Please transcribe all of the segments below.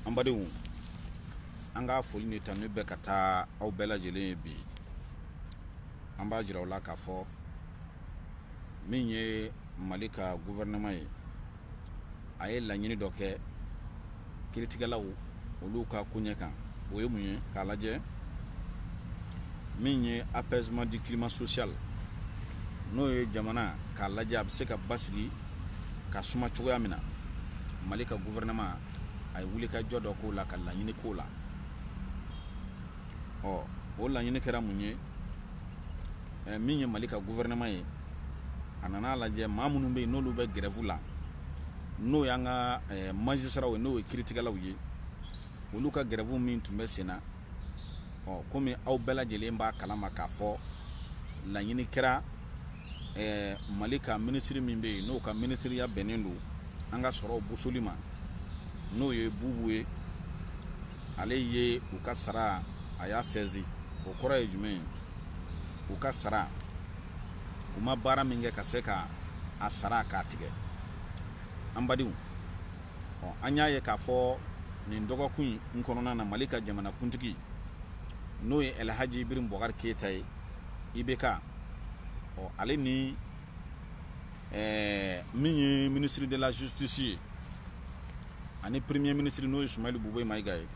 an badenw an ka foli ni tanu bɛ ka taa aw bɛɛ lajɛlen ye bi an b'a jira u la k'a fɔ min ye mali ka guvɛrɛnaman ye a ye laɲini dɔ kɛ kiritigɛlaw olu ka koɲɛ kan o ye mun ye k'a lajɛ min ye apaisement du climat social n'o ye jamana k'a lajɛ a bɛ se ka basigi ka suma cogoya min na mali ka gouvernement a ye wulikajɔ dɔ k'o la ka laɲini k'o la ɔ o laɲini kɛra mun ye eh, min ye mali ka gouvernement ye a nana lajɛ maa minnu bɛ yen n'olu bɛ grève la n'o y'an ka eh, majisiraw ye n'o ye kiritigɛlaw ye olu ka grève min tun bɛ senna ɔ komi aw bɛɛ lajɛlen b'a kalama k'a fɔ laɲini kɛra eh, mali ka minisiri min bɛ yen n'o ka minisiriya bɛnnen don an ka sɔrɔ bosoli ma n'o ye bubu ye ale ye u ka sara a y'a sezi o kɔrɔ ye jumɛn ye u ka sara k'u ma baara min kɛ ka se ka a sara k'a tigɛ an badenw ɔ an y'a ye k'a fɔ nin dɔgɔkun in kɔnɔna na mali ka jamanakuntigi n'o ye alhaji ibirahim bɔkari keyita ye ibk ɔ ale ni ɛɛ min ye ministre de la justice ye ani premier ministre n'o ye Soumeylou Boubèye Maïga ye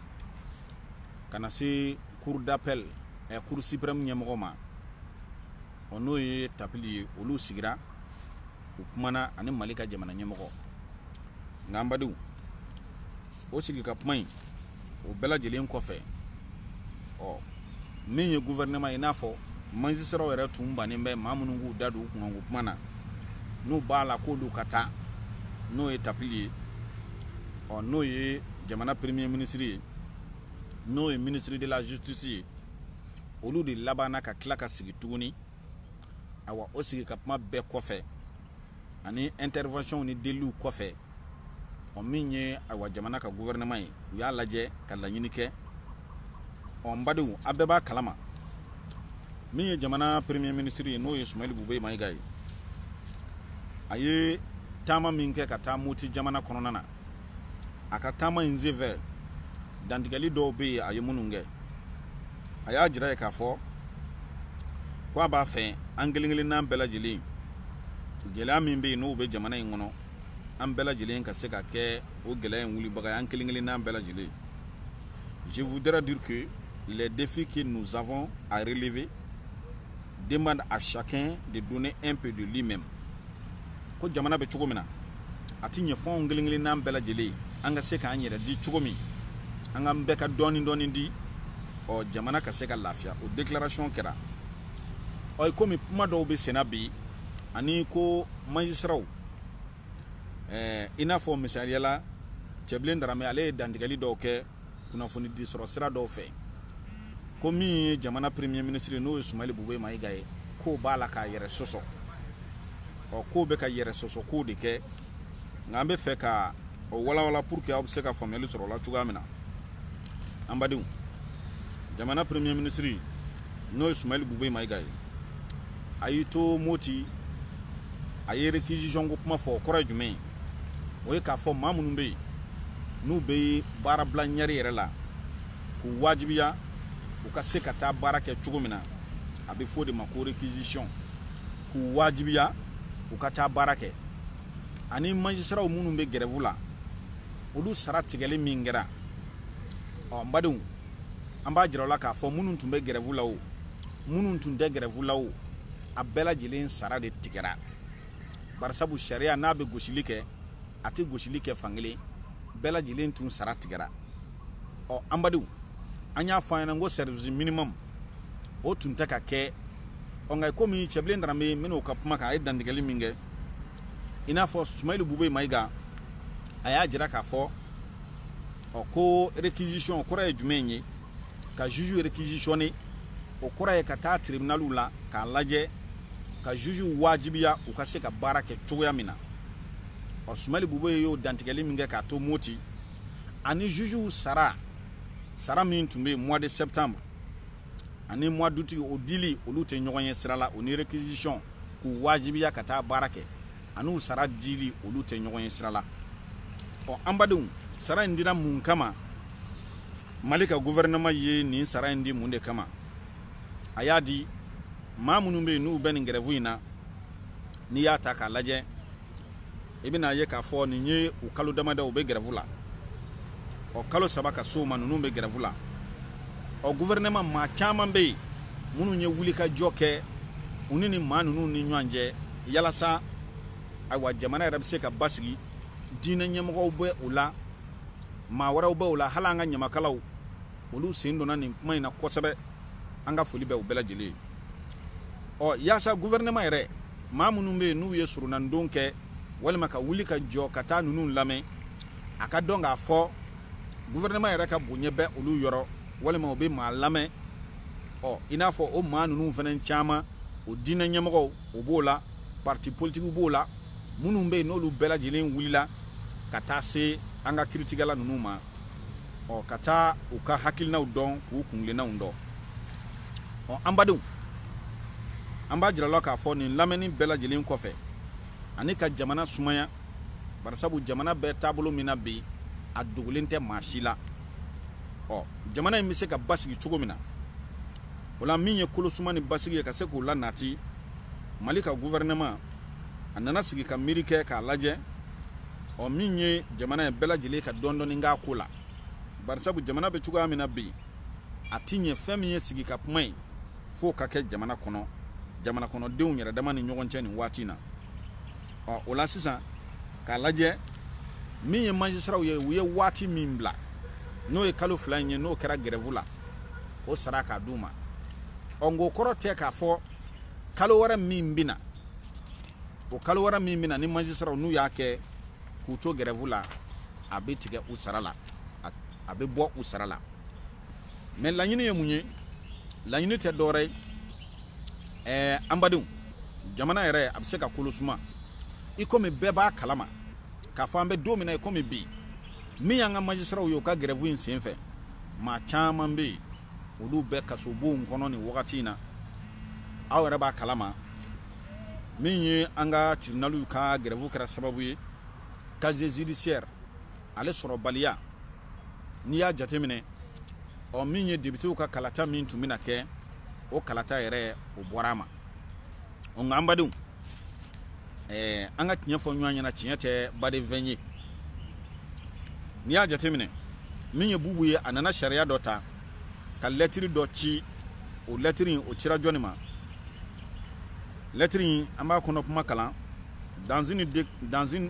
ka na se cour d'appel ɛ eh, cour suprême ɲɛmɔgɔ ma ɔ n'o ye tapili ye olu sigira u kumana ani Mali ka jamana ɲɛmɔgɔ nka an badenw o sigi ka kuma in o bɛɛ lajɛlen kɔfɛ ɔ min ye gouvernement ye i n'a fɔ majisiraw yɛrɛ tun bannen bɛ maa minnu k'u da don u kunkanko kuma na n'u b'a la k'olu ka taa n'o ye tapili ye ɔ n'o ye jamana premier ministre ye n'o ye ministre de la justice ye olu de labanna ka tila ka sigi tuguni awa o sigi ka kuma bɛɛ kɔfɛ ani intervention ni deliw kɔfɛ ɔ min ye ayiwa jamana ka gouvernement ye u y'a lajɛ ka laɲini kɛ ɔ n badenw a bɛɛ b'a kalama min ye jamana premier ministre ye n'o ye sumayili bube mayiga ye a ye taama min kɛ ka taa moti jamana kɔnɔna na a ka taama in senfɛ dantigɛli dɔw bɛ yen a ye minnu kɛ a y'a jira yen k'a fɔ ko a b'a fɛ an kelen kelennan bɛɛ lajɛlen gɛlɛya min bɛ yen n'o bɛ jamana in kɔnɔ an bɛɛ lajɛlen ka se ka kɛ o gɛlɛya in wulibaga ye an kelen kelennan bɛɛ lajɛlen je voudrais dire que les défis que nous avons à relever demandent à chacun de donner un peu de lui-même ko jamana bɛ cogo min na a tɛ ɲɛ fo an kelen kelenna bɛɛ lajɛlen an ka se k'an yɛrɛ di cogo min an k'an bɛɛ ka dɔɔnin dɔɔnin di ɔ jamana ka se ka lafiya o déclaration kɛra ɔ komi kuma dɔw bɛ senna bi ani ko majisiraw ɛɛ i n'a fɔ misaliya la cɛbilen darame ale ye dantigɛli dɔw kɛ kunnafoni di sɔrɔ sira dɔw fɛ ko min ye jamana premier ministre n'o ye sumayili bube mayiga ye k'o b'a la k'a yɛrɛ sɔsɔ ɔ k'o bɛ ka yɛrɛ sɔsɔ kow de kɛ nka an bɛ fɛ ka o walawala pour que aw bɛ se ka faamuyali sɔrɔ o la cogoya min na an badenw jamana premier ministre n'o ye sumayili bube mayiga ye a y'i to moti a ye réquisition ko kuma fɔ o kɔrɔ ye jumɛn ye o ye k'a fɔ maa minnu bɛ yen n'u bɛ baara bila ɲɛri yɛrɛ la k'u wajibiya u ka se ka taa baara kɛ cogo min na a bɛ fɔ o de ma ko réquisition k'u wajibiya u ka taa baara kɛ ani majisiraw minnu bɛ gɛrɛfu la olu sara tigɛli min kɛra ɔ n badenw an b'a jira aw la k'a fɔ minnu tun bɛ gɛrɛfu la o minnu tun tɛ gɛrɛfu la o a bɛɛ lajɛlen sara de tigɛra barisabu sariya n'a bɛ gosili kɛ a tɛ gosili kɛ fankelen bɛɛ lajɛlen tun sara tigɛra ɔ an badenw an y'a fɔ aw ɲɛna n ko service minimum o tun tɛ ka kɛ ɔ nka komi cɛbilen darame minnu ka kuma kan a ye dantigɛli min kɛ i n'a fɔ sumayili bube mayiga a y'a jira k'a fɔ ɔ ko réquisition kɔrɔ ye jumɛn ye ka juge réquisitionner o kɔrɔ ye ka taa tribunaliw la k'a lajɛ ka juge wajibiya u ka se ka baara kɛ cogoya min na ɔ sumayili bubeyi y'o dantigɛli min kɛ k'a to moti ani jugew sara sara min tun bɛ mois de septembre ani mois d'août o dili olu tɛ ɲɔgɔn ye sira la o ni réquisition k'u wajibiya ka taa baara kɛ an'u sara dili olu tɛ ɲɔgɔn ye sira la ɔ an badenw sara in dira mun kama mali ka gouvernement ye nin sara in di mun de kama a y'a di maa minnu bɛ yen n'u bɛ nin gɛrɛfu in na n'i y'a ta k'a lajɛ i bɛn'a ye k'a fɔ nin ye u kalo damadɔ u bɛ gɛrɛfu la ɔ kalo saba ka sɔrɔ maa ninnu bɛ gɛrɛfu la ɔ gouvernement maa caman bɛ yen minnu ye wulikajɔ kɛ u ni nin maa ninnu ni ɲɔgɔn cɛ yalasa ayiwa jamana yɛrɛ bɛ se ka basigi diinɛ ɲɛmɔgɔw bɛ o la maa wɛrɛw bɛ o la hali an ka ɲamakalaw olu sen donna nin kuma in na kosɛbɛ an ka foli bɛ u bɛɛ lajɛlen ye ɔ yaasa guvɛrɛnɛman yɛrɛ maa minnu bɛ yen n'u ye soronadon kɛ walima ka wuli ka jɔ ka taa ninnu lamɛn a k'a dɔn k'a fɔ guvɛrɛnɛman yɛrɛ ka bonya bɛ olu yɔrɔ walima u bɛ maa lamɛn ɔ i n'a fɔ o maa ninnu fana caman o diinɛ ɲɛmɔgɔw o b'o la parti politikiw b'o la minnu bɛ yen n'olu bɛɛ lajɛlen wulila ka taa se an ka kiritigɛla ninnu ma ɔ ka taa u ka hakilinaw dɔn k'u kungilennaw dɔn ɔ an badenw an b'a jira la k'a fɔ nin lamɛnni bɛɛ lajɛlen kɔfɛ ani ka jamana sumaya barisabu jamana bɛɛ taabolo min na bi a dogolen tɛ maa si la ɔ jamana in bɛ se ka basigi cogo min na o la min ye kolosuma ni basigi ye ka se k'u la nati mali ka guvɛrɛnɛman a nana sigi ka miiri kɛ k'a lajɛ ɔ min ye jamana ye bɛɛ lajɛlen ka dɔɔni dɔɔni k'a ko la barisabu jamana bɛ cogoya min na bi a tɛ ɲɛ fɛn min ye sigi ka kuma ye f'o ka kɛ jamana kɔnɔ jamana kɔnɔdenw yɛrɛ dama ni ɲɔgɔn cɛ nin waati in na ɔ o la sisan k'a lajɛ min ye majisiraw ye u ye waati min bila n'o ye kalo fila in ye n'o kɛra gɛrɛfu la o sara k'a d'u ma ɔ nka o kɔrɔ tɛ k'a fɔ kalo wɛrɛ min bɛ na o kalo wɛrɛ min bɛ na ni majisiraw n'u y'a kɛ k'u to gɛrɛfu la a bɛ tigɛ u sara la a bɛ bɔ u sara la mɛ laɲini ye mun ye laɲini tɛ dɔwɛrɛ ye ɛɛ an badenw jamana yɛrɛ a bɛ se ka kolo suma i komi bɛɛ b'a kalama k'a fɔ an bɛ don min na i komi bi min y'an ka majisiraw ye u ka gɛrɛfu in sen fɛ maa caman bɛ yen olu bɛ kasobonw kɔnɔ nin wagati in na aw yɛrɛ b'a kalama min ye an ka tiribinaliw ka gɛrɛfu kɛra sababu ye casier judiciaire ale sɔrɔbaliya n'i y'a jateminɛ ɔ min ye depitew ka kalata min tun bɛna kɛ o kalata yɛrɛ o bɔra a ma ɔ nka an badenw ɛɛ an ka tiɲɛ fɔ ɲɔgɔn ɲɛna tiɲɛ tɛ baden fɛn ye n'i y'a jateminɛ min ye bubu ye a nana sariya dɔ ta ka lɛtiri dɔ ci o lɛtiri in o cira jɔni ma lɛtiri in an b'a kɔnɔ kuma kalan dans une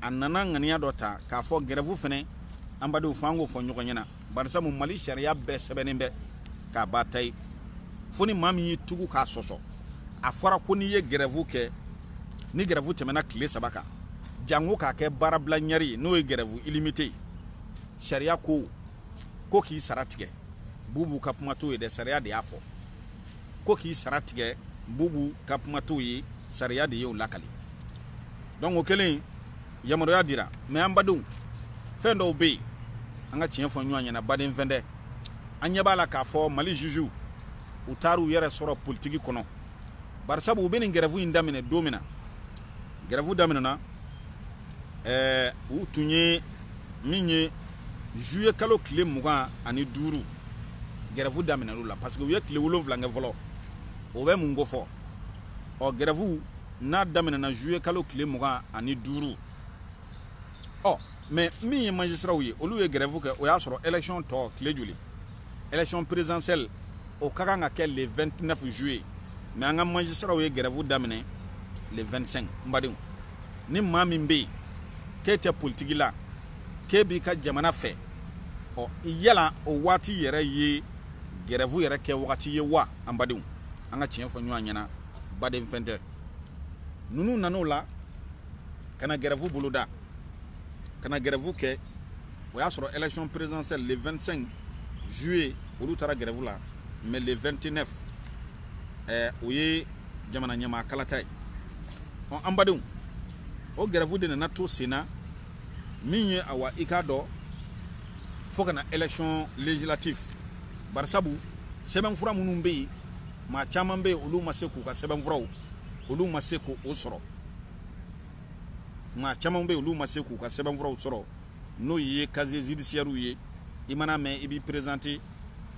a nana ŋaniya dɔ ta k'a fɔ gɛrɛfu fɛnɛ an badenw fo an k'o fɔ ɲɔgɔn ɲɛna barisabu mali sariya bɛɛ sɛbɛnnen bɛ k'a ba ta ye fo ni maa min y'i tugu k'a sɔsɔ a fɔra ko n'i ye gɛrɛfu kɛ ni gɛrɛfu tɛmɛna tile saba kan janko k'a kɛ baarabila ɲɛri ye n'o ye gɛrɛfu ilimite ye sariya ko ko k'i sara tigɛ bubu ka kuma t'o ye dɛ sariya de y'a fɔ ko k'i sara tigɛ bubu ka kuma t'o ye sariya de y'o lakali donc o kɛlen yamaruya dira mɛ an badenw fɛn dɔw bɛ yen an ka tiɲɛ fɔ ɲɔgɔn ɲɛna baden fɛn tɛ an ɲɛ b'a la k'a fɔ mali juju u taar'u yɛrɛ sɔrɔ politiki kɔnɔ barisabu u bɛ nin gɛrɛfu in daminɛ don min na gɛrɛfu daminɛna ɛɛ u tun ye min ye juillet kalo tile mugan ani duuru gɛrɛfu daminɛn'u la parce que u ye tile wolonwula kɛ fɔlɔ o bɛ mun ko fɔ ɔ gɛrɛfu n'a daminɛna juillet kalo tile mugan ani duuru ɔ mais min ye magistraw ye olu ye gɛrɛfu kɛ o y'a sɔrɔ élection tɔ tile joli élection présidentielle o ka kan ka kɛ le 29 juillet mais an ka magistraw ye gɛrɛfu daminɛ le 25 n badenw ni maa min bɛ yen k'e tɛ politiki la k'e b'i ka jamana fɛ ɔ yala o waati yɛrɛ ye gɛrɛfu yɛrɛ kɛ wagati ye wa an badenw an ka tiɲɛ fɔ ɲɔgɔn ɲɛna baden fɛn tɛ ninnu nan'o la ka na gɛrɛfu boloda ka na gɛrɛfu kɛ o y'a sɔrɔ élection présidentielle le 25 juillet olu taara gɛrɛfu la mais le 29 ɛɛ o ye jamana ɲɛmaa kalata ye ɔ an badenw o gɛrɛfu de nana to sen na min ye awa i k'a dɔn fo ka na élection législative barisabu sɛbɛnfura minnu bɛ yen maa caman bɛ yen olu ma se k'u ka sɛbɛnfuraw olu ma se k'o sɔrɔ maa caman bɛ yen olu ma se k'u ka sɛbɛnfuraw sɔrɔ n'o ye casier judiciaire ye i mana mɛn i b'i présenter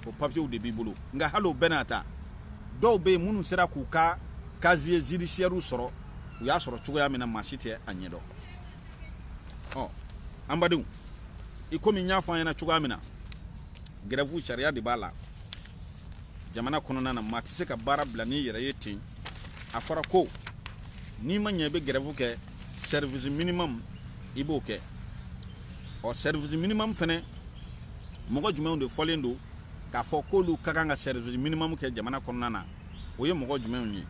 o papiers de b'i bolo nka hali o bɛɛ n'a ta dɔw bɛ yen minnu sera k'u ka casier judiciaire sɔrɔ u y'a sɔrɔ cogoya min na maa si tɛ a ɲɛdɔn ɔ an badenw i komi n y'a fɔ an ɲɛna cogoya min na gɛrɛfu sariya de b'a la jamana kɔnɔna na maa tɛ se ka baara bila n'i yɛrɛ ye ten a fɔra ko n'i ma ɲɛ i bɛ gɛrɛfu kɛ service minimum i b'o kɛ ɔ service minimum fɛnɛ mɔgɔ jumɛnw de fɔlen don k'a fɔ k'olu ka kan ka service minimum kɛ jamana kɔnɔna na o ye mɔgɔ jumɛnw ye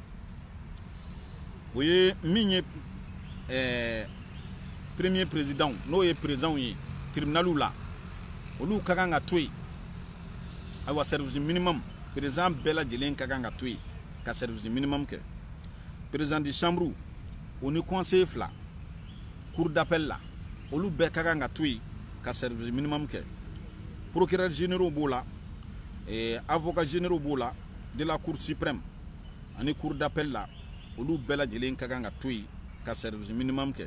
o ye min ye ɛɛ premier président n'o ye présidentw ye tribunaliw la olu ka kan ka to yen ayiwa service minimum président bɛɛ lajɛlen ka kan ka to yen ka service minimum kɛ président de chambre o ni conseiller fila cour d'appel la olu bɛɛ ka kan ka to yen ka service minimum kɛ procureur généraux b'o la eh, avocat généraux b'o la de la cour suprême ani cour d'appel la olu bɛɛ lajɛlen ka kan ka to yen ka service minimum kɛ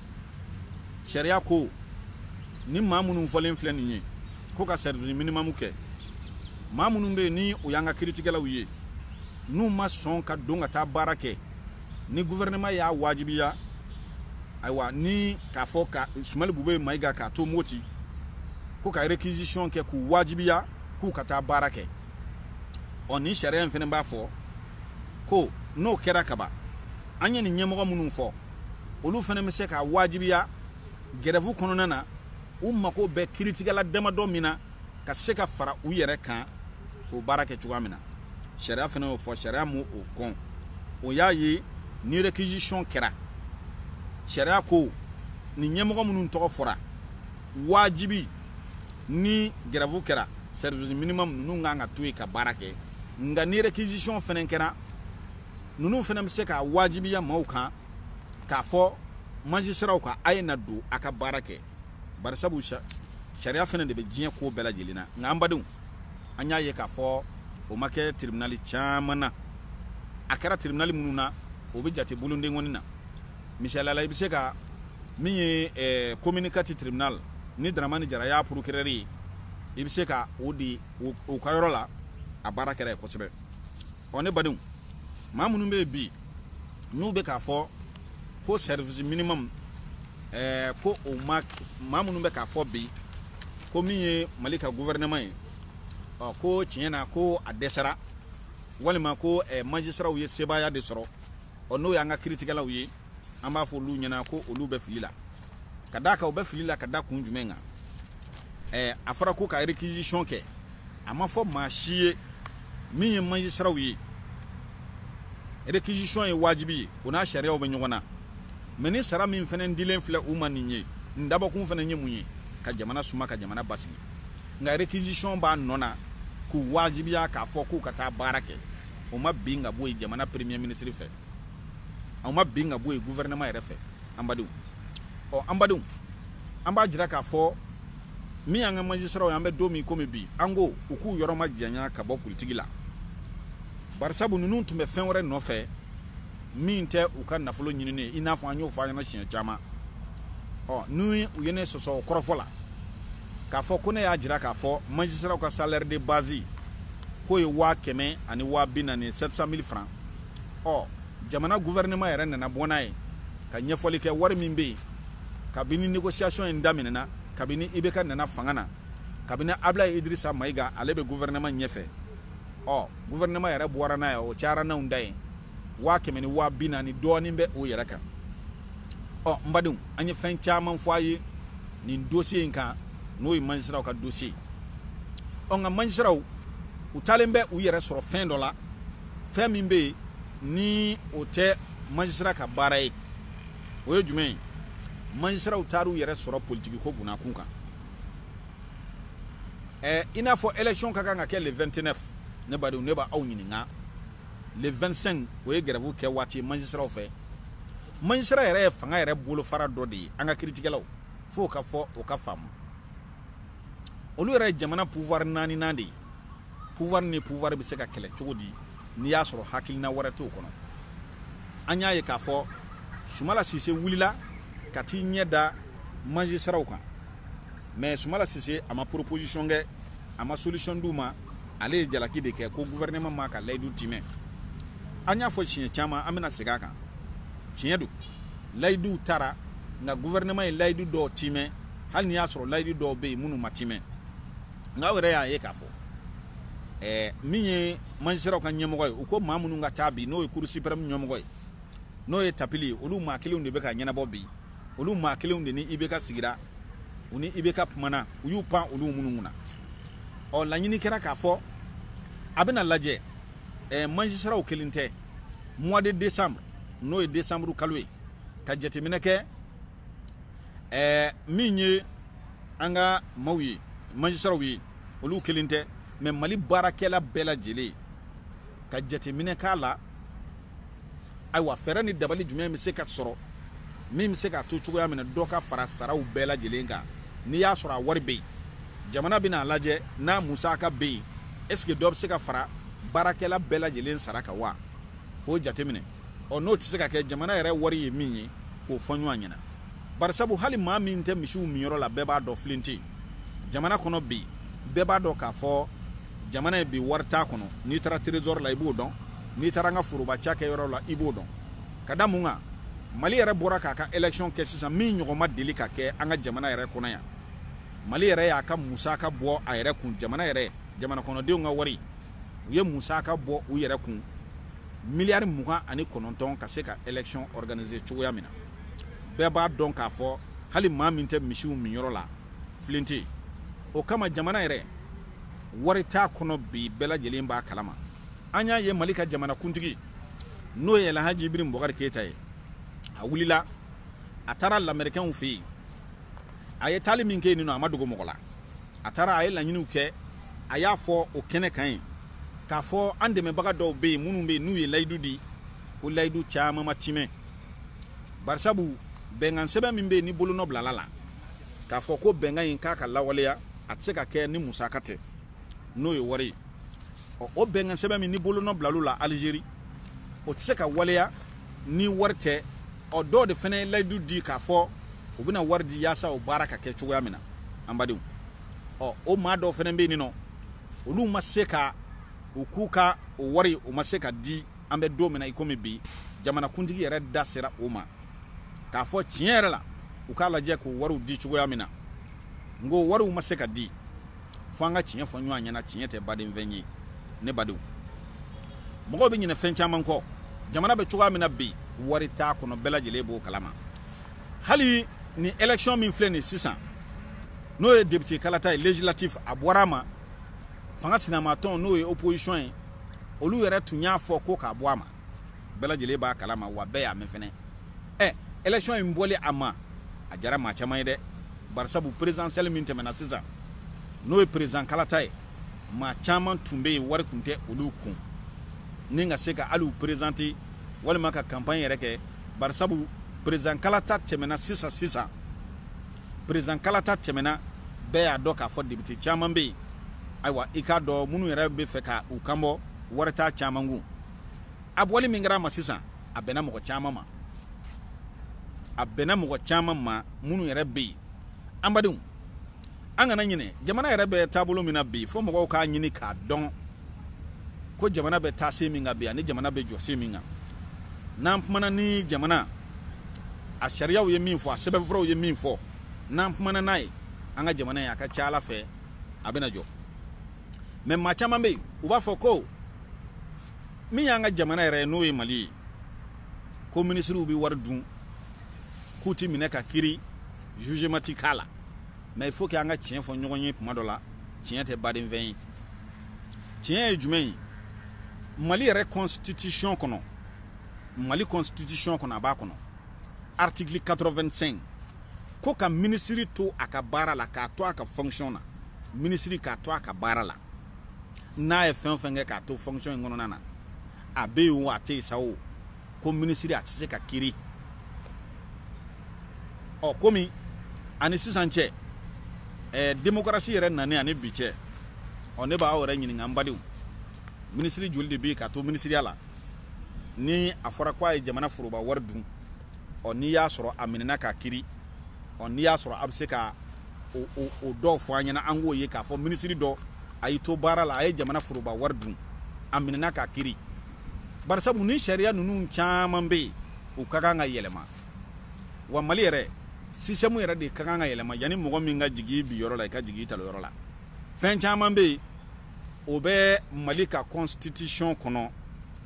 sariya ko ni maa minnu fɔlen filɛ nin ye ko ka service minimum kɛ maa minnu bɛ yen ni o y'an ka kiritigɛlaw ye n'u ma sɔn ka don ka taa baara kɛ ni gouvernement y'a wajibiya ayiwa ni k'a fɔ ka sumali bube mayiga k'a to moti ko ka réquisition kɛ k'u wajibiya k'u ka taa baara kɛ ɔ nin sariya in fɛnɛ b'a fɔ ko n'o kɛra kaban an ye nin ɲɛmɔgɔ minnu fɔ olu fana bɛ se ka wajibiya gɛrɛfu kɔnɔna na u mako bɛ kiritigɛla damadɔ min na ka se ka fara u yɛrɛ kan k'o baara kɛ cogoya min na sariya fana y'o fɔ sariya m'o kɔn o y'a ye ni réquisition kɛra sariya ko nin ɲɛmɔgɔ minnu tɔgɔ fɔra wajibi ni gɛrɛfu kɛra service minimum ninnu kan ka to yen ka baara kɛ nka ni réquisition fana kɛra ninnu fana bɛ se k'a wajibiya maaw kan k'a fɔ majisiraw ka a ye na don a ka baara kɛ barisabu sariya fana de bɛ diɲɛ ko bɛɛ lajɛlen na nka an badenw an y'a ye k'a fɔ o ma kɛ tiribinali caman na a kɛra tiribinali minnu na o bɛ jate bolondenkɔni na misali la i bɛ se ka min ye eh, commune quatre tribunal ni daramani jara y'a procureur ye i bɛ se ka o di u ka yɔrɔ la a baara kɛra yen kosɛbɛ ɔ ne badenw maa minnu bɛ yen bi n'u bɛ k'a fɔ ko service minimum ɛɛ eh, ko o ma maa minnu bɛ k'a fɔ bi ko min ye mali ka gouvernement ye ɔ oh, ko tiɲɛ na ko a dɛsɛra walima ko ɛɛ eh, majisiraw ye sebaaya de sɔrɔ ɔ oh, n'o y'an ka kiritigɛlaw ye an b'a fɔ olu ɲɛna ko olu bɛ fili la ka d'a kan u bɛ fili la ka da kun jumɛn kan ɛɛ eh, a fɔra ko ka réquisition kɛ a ma fɔ maa si ye min ye majisiraw ye réquisition ye wajibi ye o n'a sariyaw bɛ ɲɔgɔn na mais ni sara min fana dilen filɛ u ma nin ye nin dabɔkun fana ye mun ye ka jamana suma ka jamana basigi nka réquisition b'a nɔ na k'u wajibiya k'a fɔ k'u ka taa baara kɛ o ma bin ka bɔ yen jamana premier ministre fɛ o ma bin ka bɔ yen gouvernement yɛrɛ fɛ an badenw ɔ an badenw an b'a jira k'a fɔ min y'an ka majisiraw ye an bɛ don min komi bi an ko u k'u yɔrɔ majanya ka bɔ politiki la barisabu ninnu tun bɛ fɛn wɛrɛ nɔfɛ min tɛ u ka nafolo ɲinini ye i n'a fɔ an y'o fɔ a ɲɛna siɲɛ caman ɔ n'u ye ne sɔsɔ kɔrɔfɔ la k'a fɔ ko ne y'a jira k'a fɔ majisiraw ka salaire de base k'o ye waa kɛmɛ ani waa bi naani 700 mille francs ɔ jamana gouvernement yɛrɛ nana bɔ n'a ye ka ɲɛfɔli kɛ wari min bɛ yen kabini négociation in daminɛna kabini IBK nana fanga na kabini ablaye idirisa mayiga ale bɛ gouvernement ɲɛfɛ ɔ gouvernement yɛrɛ bɔra n'a ye o cayara n'anw da ye waa kɛmɛ ni waa bi naani dɔɔnin bɛ o yɛrɛ kan ɔ n badenw an ye fɛn caman fɔ a ye nin dossier in kan n'o ye majisiraw ka dossier ɔ nka majisiraw u taalen bɛ u yɛrɛ sɔrɔ fɛn dɔ la fɛn min bɛ yen ni o tɛ majisira ka baara ye o ye jumɛn ye magistratw taar'u yɛrɛ sɔrɔ politiki ko bunnakun kan ɛɛ i n'a fɔ élection ka kan ka kɛ le 29 ne badenw ne b'aw ɲininka le 25 o ye grève kɛ waati ye magistratw fɛ magistrat yɛrɛ ye fanga yɛrɛ bolofara dɔ de ye an ka kiritigɛlaw fo ka fɔ o ka faamu olu yɛrɛ ye jamana pouvoir naaninan de ye pouvoir ni pouvoir bɛ se ka kɛlɛ cogo di n'i y'a sɔrɔ hakilina wɛrɛ t'o kɔnɔ an y'a ye k'a fɔ sumala sise wulila ka tiɲɛ da magistratw kan mais sumala sise a ma proposition kɛ a ma solution d'u ma ale ye jalaki de kɛ ko gouvernement m'a ka layidu timɛ an y'a fɔ siɲɛ caman an bɛna segin a kan tiɲɛ don layiduw tara nka gouvernement ye layidu dɔw timɛ hali n'i y'a sɔrɔ layidu dɔw bɛ yen minnu ma timɛ nka aw yɛrɛ y'a ye k'a fɔ ɛɛ min ye magistratw ka ɲɛmɔgɔ ye u ko maa minnu ka taa bi n'o ye cour suprême ɲɛmɔgɔ ye n'o ye tapili ye olu maa kelenw de bɛ k'a ɲɛnabɔ bi olu maa kelenw de ni ibk sigira u ni ibk kumana u y'u pan olu minnu kunna ɔ laɲini kɛra k'a fɔ a bɛna lajɛ ɛɛ magistratw kelen tɛ mois de décembre n'o ye décembre kalo ye ka jateminɛ kɛ ɛɛ min ye an ka maaw ye magistratw ye olu kelen tɛ mais mali baarakɛla bɛɛ lajɛlen ka jateminɛ k'a la ayiwa fɛɛrɛ ni dabali jumɛn bɛ se ka sɔrɔ min bɛ se k'a to cogoya min na dɔ ka fara saraw bɛɛ lajɛlen kan n'i y'a sɔrɔ a wari bɛ yen jamana bɛna a lajɛ n'a musaka bɛ yen est-ce que dɔ bɛ se ka fara baarakɛla bɛɛ lajɛlen sara kan wa k'o jateminɛ ɔ n'o tɛ se ka kɛ jamana yɛrɛ wari ye min ye k'o fɔ ɲɔgɔn ɲɛna barisabu hali maa min tɛ misiw minyɔrɔ la bɛɛ b'a dɔn filen tɛ jamana kɔnɔ bi bɛɛ b'a dɔn k'a fɔ jamana ye bi wari t'a kɔnɔ n'i taara trésor la i b'o dɔn n'i taara an ka foroba cakɛyɔrɔ la i b'o dɔn ka da mun kan mali yɛrɛ bɔra k'a ka élection kɛ sisan min ɲɔgɔn ma deli ka kɛ an ka jamana yɛrɛ kɔnɔ yan mali yɛrɛ y'a ka musaka bɔ a yɛrɛ kun jamana yɛrɛ jamanakɔnɔdenw ka wari u ye musaka bɔ u yɛrɛ kun miliyari mugan ani kɔnɔntɔn ka se ka élection organiser cogoya min na bɛɛ b'a dɔn k'a fɔ hali maa min tɛ misiw minyɔrɔ la filen tɛ o kama jamana yɛrɛ wari t'a kɔnɔ bi bɛɛ lajɛlen b'a kalama an y'a ye mali ka jamanakuntigi n'o ye lahaji ibrahim bubakari keyita ye a wulila a taara lamerikɛnw fɛ yen a ye taali min kɛ nin a ma dogo mɔgɔ la a taara a ye laɲiniw kɛ a y'a fɔ o kɛnɛ kan yen k'a fɔ an dɛmɛbaga dɔw bɛ yen minnu bɛ yen n'u ye layidu di ko layidu caman ma timɛ barisabu bɛnkan sɛbɛn min bɛ yen ni bolonɔ bilala a la k'a fɔ ko bɛnkan in k'a ka lawaleya a tɛ se ka kɛ ni musaka tɛ n'o ye wari ye o bɛnkan sɛbɛn min ni bolonɔ bilal'o la alizeri o tɛ se ka waleya ni wari tɛ ɔ dɔw de fana ye layidu di k'a fɔ u bɛna wari di yaasa o baara ka kɛ cogoya min na an badenw ɔ o maa dɔw fana bɛ yen nɔ olu ma se ka u k'u ka o wari o ma se ka di an bɛ don min na i komi bi jamanakuntigi yɛrɛ da sera o ma k'a fɔ tiɲɛ yɛrɛ la u k'a lajɛ k'o wariw di cogoya min na n ko wariw ma se ka di fo an ka tiɲɛ fɔ ɲɔgɔn ɲɛna tiɲɛ tɛ badenfɛn ye ne badenw mɔgɔw bɛ ɲinɛ fɛn caman kɔ jamana bɛ cogoya min na bi wari t'a kɔnɔ bɛɛ lajɛlen b'o kalama hali ni élection min filɛ nin sisan n'o ye député kalata ye législatif a bɔra a ma fanga sinamatɔn n'o ye opposition ye olu yɛrɛ tun y'a fɔ ko k'a bɔ a ma bɛɛ lajɛlen b'a kalama wa bɛɛ y'a mɛn fana ɛ élection in bɔli a ma a jara maa caman ye dɛ barisabu présidentielle min tɛmɛna sisan n'o ye président kalata ye maa caman tun bɛ yen wari tun tɛ olu kun ni ka se ka hali u perezante walima ka kanpanye yɛrɛ kɛ barisabu président kalata tɛmɛna sisan sisan président kalata tɛmɛna bɛɛ y'a dɔn k'a fɔ député caman bɛ yen ayiwa i k'a dɔn minnu yɛrɛ b'a fɛ ka u kanbɔ wari t'a caman kun a bɔli min kɛra a ma sisan a bɛnna mɔgɔ caman ma a bɛnna mɔgɔ caman ma minnu yɛrɛ bɛ yen an badenw an kana ɲinɛ jamana yɛrɛ bɛ taabolo min na bi fo mɔgɔw k'a ɲini k'a dɔn ko jamana bɛ taa sen min kan bi ani jamana bɛ jɔ sen min kan n'an kumana ni jamana a sariyaw ye min fɔ a sɛbɛnfuraw ye min fɔ n'an kumana n'a ye an ka jamana ye a ka c'a la fɛ a bɛna jɔ mɛ maa caman bɛ yen u b'a fɔ ko min y'an ka jamana yɛrɛ ye n'o ye mali ye ko minisiriw bɛ wari dun k'u ti minɛ ka kiri jugement ti k'a la mais il faut que an ka tiɲɛ fɔ ɲɔgɔn ye tuma dɔ la tiɲɛ tɛ badenfɛn ye tiɲɛ ye jumɛn ye mali yɛrɛ constitution kɔnɔ mali constitution kɔnɔ a b'a kɔnɔ article 85 ko ka minisiri to a ka baara la k'a to a ka fonction na minisiri k'a to a ka baara la n'a ye fɛn o fɛn kɛ k'a to fonction in kɔnɔna na a bɛ yen o a tɛ yen sa o ko minisiri a tɛ se ka kiri ɔ komi ani sisan cɛ ɛɛ demokarasi yɛrɛ nani ani bi cɛ ɔ ne b'aw yɛrɛ ɲininka n badenw minisiri joli de bɛ yen k'a to minisiriya la ni a fɔra ko a ye jamana foroba wari dun ɔ n'i y'a sɔrɔ a minɛna k'a kiri ɔ n'i y'a sɔrɔ a bɛ se ka o o o dɔw fɔ an ɲɛna an k'o ye k'a fɔ minisiri dɔ a y'i to baara la a ye jamana foroba wari dun a minɛna k'a kiri barisabu ni sariya ninnu caman bɛ yen u ka kan ka yɛlɛma wa mali yɛrɛ système yɛrɛ de ka kan ka yɛlɛma yanni mɔgɔ min ka jigi binyɔrɔ la i ka jigi i talonyɔrɔ la fɛn caman bɛ yen o bɛ mali ka constitution kɔnɔ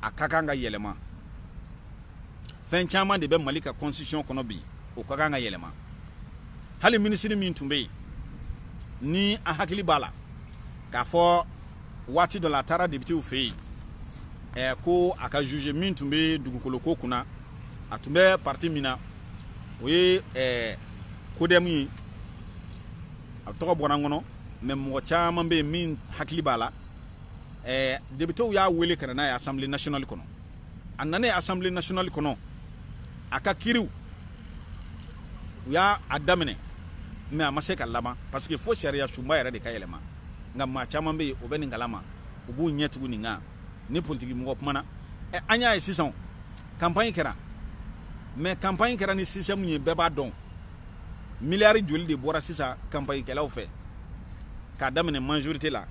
a ka kan ka yɛlɛma fɛn caman de bɛ mali ka constitution kɔnɔ bi o ka kan ka yɛlɛma hali minisiri min tun bɛ yen ni a hakili b'a la k'a fɔ waati dɔ la a taara depitew fɛ yen ɛɛ ko a ka juge min tun bɛ dugukolo ko kunna a tun bɛ parti min na o ye ɛɛ kodɛmu ye a tɔgɔ bɔra n kɔnɔ mɛ mɔgɔ caman bɛ yen min hakili b'a la ɛɛ depitew y'a wele ka na n'a ye asanbile nasinali kɔnɔ a nanen asanbile nasinali kɔnɔ a ka kiriw u y'a daminɛ mɛ a ma se ka laban parce que fo sariya sunba yɛrɛ de ka yɛlɛma nka maa caman bɛ yen o bɛ nin kalama u b'u ɲɛ tugu nin kan ni politiki mɔgɔ kumana ɛ an y'a ye sisan kanpaɲi kɛra mɛ kanpaɲi kɛra ni système ye bɛɛ b'a dɔn miliyari joli de bɔra sisan kanpaɲikɛlaw fɛ k'a daminɛ majorité la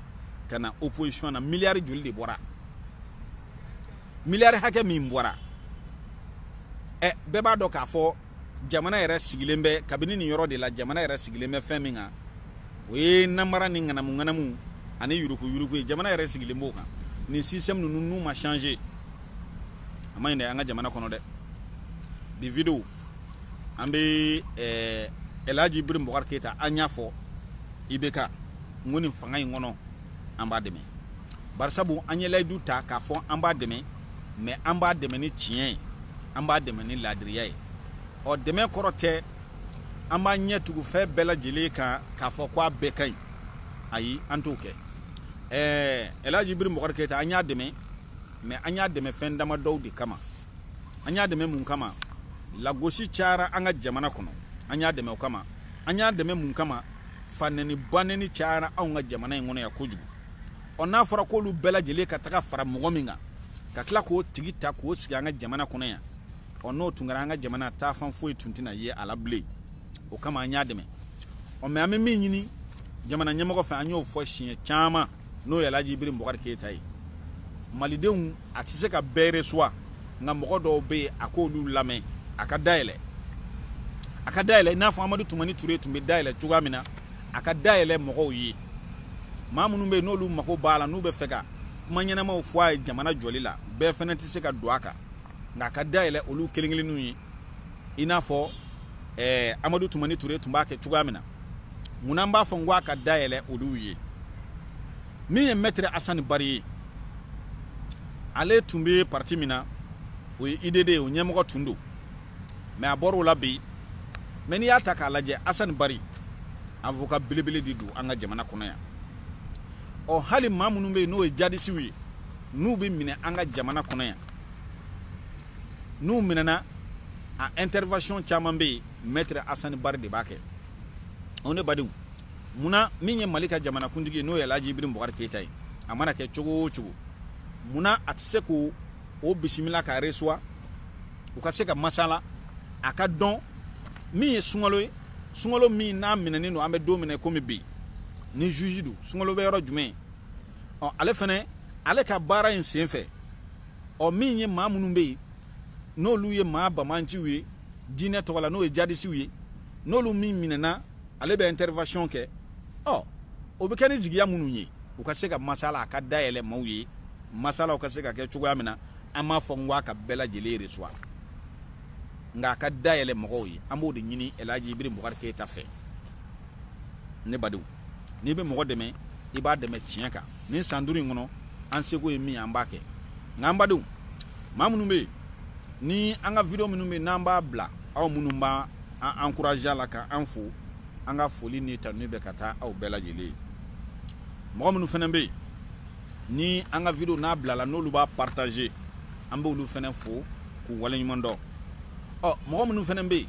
ka na opposition na miliyari joli de bɔra miliyari hakɛ min bɔra ɛ bɛɛ b'a dɔn k'a fɔ jamana yɛrɛ sigilen bɛ kabini nin yɔrɔ de la jamana yɛrɛ sigilen bɛ fɛn min kan o ye namara ni ŋanamu ŋanamu ani yuruku yuruku ye jamana yɛrɛ sigilen b'o kan nin système ninnu n'u ma changer a man ɲi dɛ an ka jamana kɔnɔ dɛ bi video an bɛ ɛɛ Elhaji Ibrahim Boubacar Keita an y'a fɔ IBK n ko nin fanga in kɔnɔ an b'a dɛmɛ barisabu an ye layidu ta k'a fɔ an b'a dɛmɛ mɛ an b'a dɛmɛ ni tiɲɛ ye an b'a dɛmɛ ni laadiriya ye ɔ dɛmɛ kɔrɔ tɛ an b'an ɲɛ tugu fɛn bɛɛ lajɛlen kan k'a fɔ ko a bɛɛ ka ɲi ayi an t'o kɛ ɛɛ Elhaji Ibrahim Boubacar Keita an y'a dɛmɛ mɛ an y'a dɛmɛ fɛn damadɔw de kama an y'a dɛmɛ mun kama lagosi cayara an ka jamana kɔnɔ an y'a dɛmɛ o kama an y'a dɛmɛ mun kama fanɛni banɛni cayara anw ka jamana in kɔnɔ yan kojugu ɔ n'a fɔra k'olu bɛɛ lajɛlen ka taga fara mɔgɔ min kan ka tila k'o tigi ta k'o sigi an ka jamana kɔnɔ yan ɔ n'o tun kɛra an ka jamana taafan foyi tun tɛna ye a la bilen o kama an y'a dɛmɛ ɔ mɛ an bɛ min ɲini jamana ɲɛmɔgɔ fɛ an y'o fɔ siɲɛ caman n'o ye Elhaji Ibrahim Boubacar Keita ye malidenw a tɛ se ka bɛɛ resuwa nka mɔgɔ dɔw bɛ yen a k'olu lamɛn a ka dayɛlɛ a ka dayɛlɛ i n'a fɔ Amadu Tumani Ture tun bɛ dayɛlɛ cogoya min na a ka dayɛlɛ mɔgɔw ye maa minnu bɛ yen n'olu mago b'a la n'u bɛ fɛ ka kuma ɲɛnamaw fɔ a ye jamana jɔli la bɛɛ fana tɛ se ka don a kan nka a ka dayɛlɛ olu kelen kelenninw ye i n'a fɔ eh, amadu tumani ture tun b'a kɛ cogoya min na mun na n b'a fɔ n ko a ka dayɛlɛ olu ye min ye mɛtiri asani bari ye ale tun bɛ parti min na o ye udd o ɲɛmɔgɔ tun don mɛ a bɔr'o la bi mɛ n'i y'a ta k'a lajɛ asani bari avoka belebele de don an ka jamana kɔnɔ yan ɔ hali maa minnu bɛ yen n'o ye jadisiw ye n'u bɛ minɛ an ka jamana kɔnɔ yan n'u minɛna a intervention caman bɛ yen maître Assane Bari de b'a kɛ o ne badenw munna min ye Mali ka jamanakuntigi ye n'o ye Alhaji Ibrim Boubacar Keita ye a mana kɛ cogo o cogo munna a tɛ se k'o bisimila ka resuwa u ka se ka masala a ka dɔn min ye sunkalo ye sunkalo min n'a minɛnen don an bɛ don min na komi bi ni juge don sunkalo bɛ yɔrɔ jumɛn ɔ ale fana ale ka baara in senfɛ ɔ min ye maa minnu bɛ yen n'olu ye maa banbaanciw ye diinɛ tɔgɔ la n'o ye jadisiw ye n'olu min minɛna ale bɛ intervention kɛ ɔ o bɛ kɛ ni jigiya minnu ye u ka se ka masala a ka dayɛlɛ maaw ye masalaw ka se ka kɛ cogoya min na an m'a fɔ n ko a ka bɛɛ lajɛlen resuwa nka a ka dayɛlɛ mɔgɔw ye an b'o de ɲini El Hadji Ibrim Boubacar Keita fɛ ne badenw n'i bɛ mɔgɔ dɛmɛ i b'a dɛmɛ tiɲɛ kan nin san duuru in kɔnɔ an seko ye min ye an b'a kɛ nka an badenw maa minnu bɛ yen ni an ka video minnu bɛ yen n'an b'a bila aw minnu b'an encourager a la ka an fo an ka foli ni tanuni bɛ ka taa aw bɛɛ lajɛlen ye mɔgɔ minnu fana bɛ yen ni an ka video n'a bilala n'olu b'a partager an b'olu fana fo k'u waleɲuman dɔn ɔ mɔgɔ minnu fana bɛ yen